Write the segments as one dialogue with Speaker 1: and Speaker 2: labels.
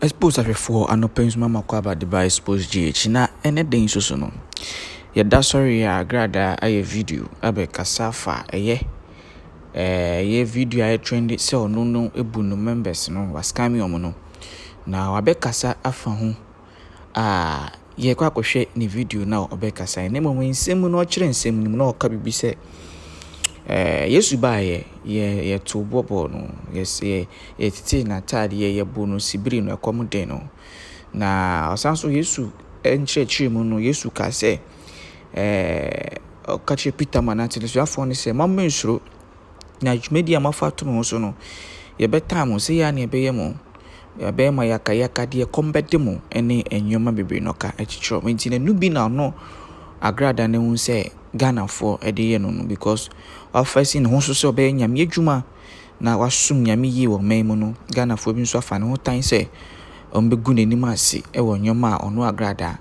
Speaker 1: Exposed ahwɛfoɔ anɔpa nsuma ma kɔ aba Dubai Exposed GH na ɛnɛ da nso so no, yɛda sɔre a gradaa ayɛ video abɛkasa fa ɛyɛ ɛyɛ video a ɛyɛ trendy sɛ ɔno no abu no members no, wa scam wɔn no, na wabɛkasa afa ho. a yɛkɔ akɔhwɛ ne video no a ɔbɛkasae na mmom nsɛm mu no ɔkyerɛ nsɛm no mu na ɔka biribi sɛ ɛɛ Yesu baeɛ yɛ yɛtoo boɔ bɔɔ no yɛsɛ yɛtetee n'ataadeɛ yɛbɔ no sibiri no ɛkɔm den no na ɔsan so Yesu nkyerɛkyerɛ mu no Yesu kaa sɛ ɛɛ ɔka kyerɛ Peter ma n'atenesuafoɔ no sɛ mɔmmɛ nsuro Na dwumadi a moafa ato me ho so no, yɛbɛtaa mo. Sɛ yei ara na yɛbɛyɛ mo a, ɛbɛyɛ ma yɛaka, yɛaka deɛ ɛkɔm bɛde mo ne nneɛma bebree na ɔka kyekyerɛ wɔn. Enti n'anu bi na ɔno Agrada no hu sɛ Ghanafoɔ de yɛ no no because wafa asi ne ho so sɛ ɔbɛyɛ Nyame adwuma na wasom Nyame yie wɔ ɔman mu no, Ghanafoɔ bi nso afa ne ho tan sɛ wɔbɛgu n'anim ase wɔ nneɛma a ɔno Agrada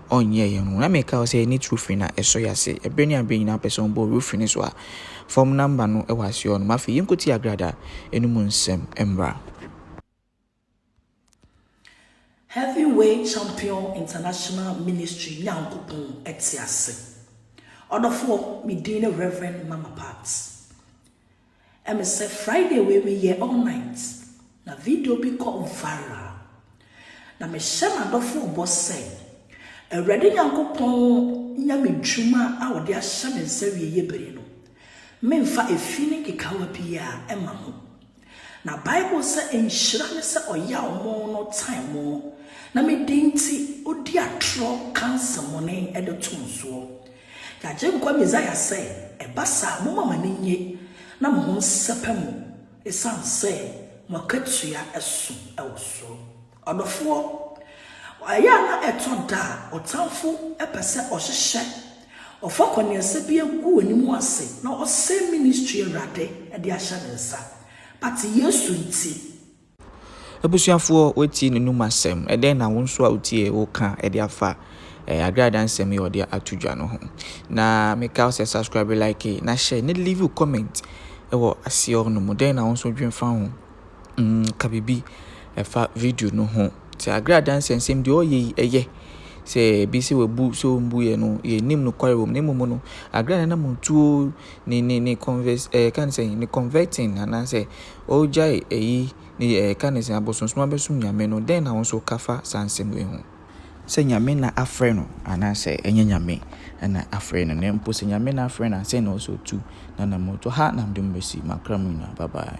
Speaker 1: ɔnyɛɛ yɛn ho. Na meka wo sɛ ne trofin na ɛsɔ yɛn ase. Ɛberɛ ne aberɛ nyinaa wopɛ sɛ wobɔ roof no so a, fam number no wɔ aseɛ hɔ nom. Afei yɛnkɔtie Agrada no mu nsɛm mmra.
Speaker 2: Heavyweight Champion International Ministry Nyankopɔn te ase. Ɔdɔfoɔ, me din ne Rev. Mama Pat. Ɛme sɛ Friday wei me yɛ all night na video bi kɔ viral na me hyɛ m'adɔfoɔ bɔ sɛ Awurade Nyankopɔn nya me dwuma a ɔde ahyɛ me nsa wie yɛ bere no me nfa efi ne nkekawa biara ɛma ho na Bible sɛ nhyira ne sɛ ɔyaw mo no tan mo na me din nti odi atorɔ ka nsɛmɔne ɛde to mo soɔ Y'Agyenkwa Mesia sɛ, Ɛba saa, momma mo ani nnye na mo ho nsɛpɛ mo, esiane sɛ mo akatua so wɔ soro. Ɔdɔfoɔ, ɛyɛ a na ɛtɔ da a ɔtamfo pɛ sɛ ɔhyehyɛ, ɔfa kɔneɛsɛ bi gu w'anim ase na ɔsɛe ministry Awurade de ahyɛ ne nsa, but Yesu nti,
Speaker 1: Abusuafoɔ wɔatie ne nom asɛm. Ɛdɛn na wo nso a wotiee wo ka de afa eh, Adwene Adansɛm yi a wɔde ato dwa no ho. Na meka wo sɛ subscribe, like, na hyɛ ne leave comment wɔ aseɛ hɔ no mu. Dɛn na wo nso dwen fa ho? Mm, ka biribi ɛfa video no ho. Sɛ Adwene Adansɛm sɛm deɛ ɔyɛ yi ɛyɛ sɛ bi sɛ wabu sɛ ɔmbu yɛ no yɛnim no kware wɔm na mmom no Adwene nanam tuo ne ne ne converse eh, kan sɛ ne converting anaasɛ Ɔregyae eyi ne deɛ ɛreka ne sɛ abosonsom abɛsom Nyame no, dɛn na wo nso ka fa saa nsɛm wei ho? Sɛ Nyame na afrɛ no anaasɛ ɛnyɛ Nyame na afrɛ no, na mpo sɛ Nyame na afrɛ no a, sɛn na ɔsɛ ɔtu n'anammɔntuo? Ha na mede mo bɛsi, m'akra mu nyinaa, bye bye.